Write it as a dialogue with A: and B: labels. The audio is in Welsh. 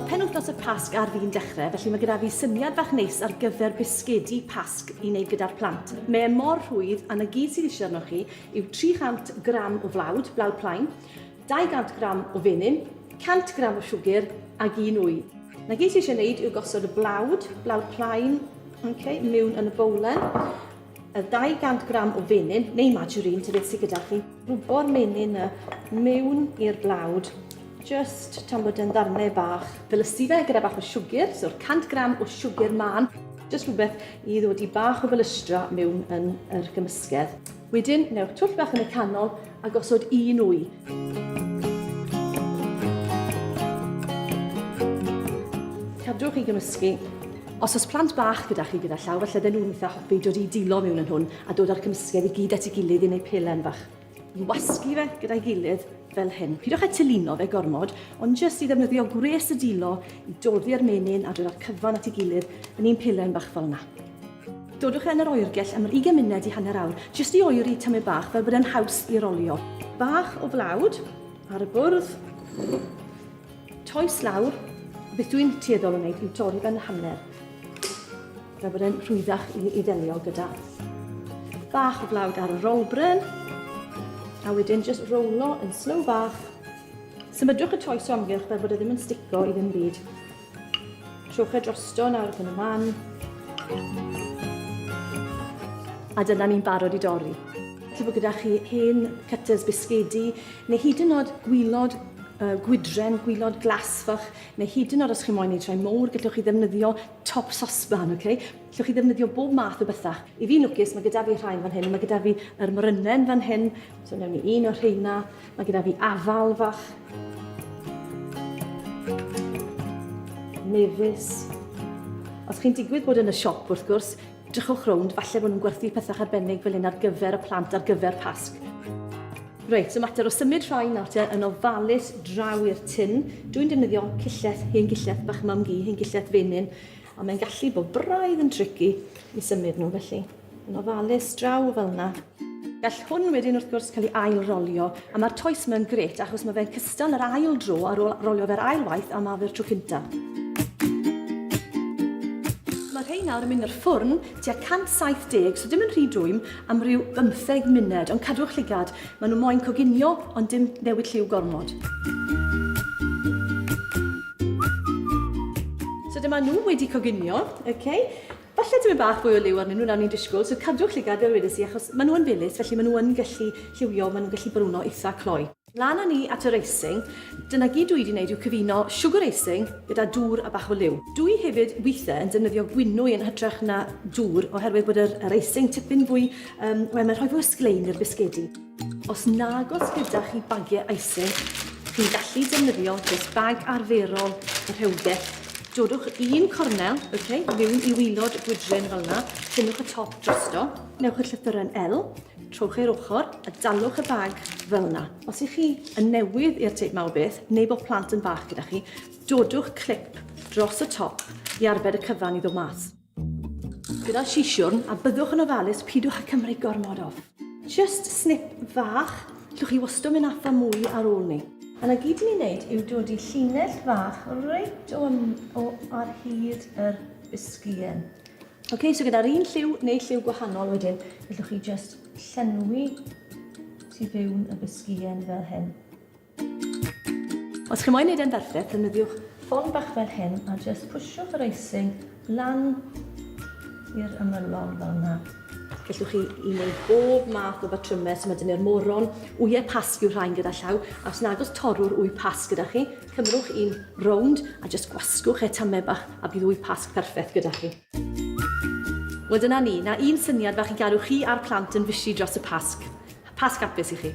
A: penwythnos y Pasg ar fin dechrau, felly mae gyda fi syniad fach neis ar gyfer bisgedi Pasg i wneud gyda'r plant. Mae e mor rhwydd a na gyd sydd eisiau arnoch chi yw 300 gram o flawd, blawd plaen, 200 gram o fenyn, 100 gram o siwgr ac un wy. Na gyd sydd eisiau wneud yw gosod y blawd, blawd plaen, okay, mewn yn y bowlen. y 200 gram o fenyn neu margarine ta beth sydd gyda chi. Rwbo'r menyn na mewn i'r blawd, just tan bod yn ddarnau bach. Felysu fe gyda bach o siwgr, so'r 100 gram o siwgr man, just rhywbeth i ddod i bach o felystra mewn yn yr gymysgedd. Wedyn, newch twll bach yn y canol a gosod un wy. cadwch i gymysgu. Os oes plant bach gyda chi gyda llaw, felly dyn nhw'n eitha hoffi dod i dilo mewn yn hwn a dod â'r cymysgedd i gyd at ei gilydd i wneud pelen fach. I wasgu fe gyda'i gilydd fel hyn. Pidwch â tylino fe gormod, ond jyst i ddefnyddio gwres y dilo i doddi'r menyn a dod â'r cyfan at ei gilydd yn un pelen bach fel yna. Dodwch yn yr oergell am yr ugain munud i hanner awr, jyst i oeri tamaid bach fel bod e'n haws i rolio. Bach o flawd ar y bwrdd. Toes lawr. Beth dwi'n tueddol o wneud yw dorri fe'n hanner. Fel bod e'n rhwyddach i, i ddelio gyda. Bach o flawd ar y rolbryn. A wedyn jyst rowlo yn slow bach. Symudwch y toes o amgylch fel bod e ddim yn stico i ddim byd. Rhowch e drosto nawr ac yn y man. A dyna ni'n barod i dorri. Felly bod gyda chi hen cutters bisgedi neu hyd yn oed gwylod uh, gwydren, gwylod glasfach, neu hyd yn oed os chi'n moyn ei trai mowr, gallwch chi ddefnyddio top sosban, oce? Okay? Gallwch chi ddefnyddio bob math o bethau. I fi'n lwcus, mae gyda fi rhain fan hyn, mae gyda fi yr mrynen fan hyn, so newn ni un o'r rheina, Mae gyda fi afal fach. Mefus. Os chi'n digwydd bod yn y siop, wrth gwrs, drychwch rownd, falle bod nhw'n gwerthu pethau arbennig fel hyn ar gyfer y plant, ar gyfer Pasg. Reit, so mater o symud rhai nawr te yn ofalus draw i'r tyn. Dwi'n defnyddio cillell, hen gillell bach mam gi, hen gillell fenyn, ond mae'n gallu bod braidd yn tricky i symud nhw felly. Yn ofalus draw fel yna. Gall hwn wedyn wrth gwrs cael ei ail-rolio, a mae'r toes yma'n gret achos mae fe'n cystal yr ail dro ar ôl rolio fe'r ail waith a mae fe'r tro cyntaf. Mae rhai nawr yn mynd i'r ffwrn tua 170, so dim yn rhy dwym, am ryw bymtheg muned, ond cadwch llygad, maen nhw moyn coginio, ond dim newid lliw gormod. So dyma nhw wedi coginio, okay. Falle tipyn bach fwy o liw arnyn nhw na o'n i'n disgwyl, so cadwch llygad fel wedes i achos maen nhw yn felys, felly maen nhw yn gallu lliwio, maen nhw'n gallu browno eitha' cloi. Mlaen â ni at yr icing. Dyna gyd dwi 'di 'neud yw cyfuno siwgr icing gyda dŵr a bach o liw. Dwi hefyd withe' yn defnyddio gwinwy yn hytrach na dŵr oherwydd bod yr yr icing tipyn fwy yym wel mae'n rhoi fwy o sglein i'r bisgedi. Os nag oes gyda chi bagiau ISIN, chi'n gallu defnyddio jyst bag arferol y rhewgell. Dodwch un cornel, ok, miwn i waelod gwydryn fel yna, tynnwch y top drosto, gwnewch y llythyren L trowch e'r ochr a dalwch y bag fel yna. Os ych chi yn newydd i'r tŷ maw beth, neu bod plant yn fach gyda chi, dodwch clip dros y top i arbed y cyfan i ddod mas. Gyda sisiwrn, a byddwch yn ofalus, pidwch a cymryd gormod of. Just snip fach, llwch chi wastod mynd atho mwy ar ôl ni. A na gyd ni'n wneud yw dod i llinell fach reit o, o ar hyd yr ysguen. Ok, so gyda'r un lliw neu lliw gwahanol wedyn, gallwch chi just llenwi tu fewn y bysguen fel hyn. Os chi moyn neud e'n berffeth, defnyddiwch ffon bach fel hyn a jyst pwsiwch yr icing lan i'r ymylon fel yna. Gellwch chi i wneud bob math o batrymau, so mae 'da ni'r moron, wyau Pasg yw'r rhain gyda llaw, a os nag oes torrwr wy Pasg gyda chi, cymrwch un rownd a jyst gwasgwch e tamaid bach a bydd wy Pasg perffeth gyda chi. Wel dyna ni, 'na un syniad fach i gadw chi a'r plant yn fishi dros y Pasg. Pasg hapus i chi.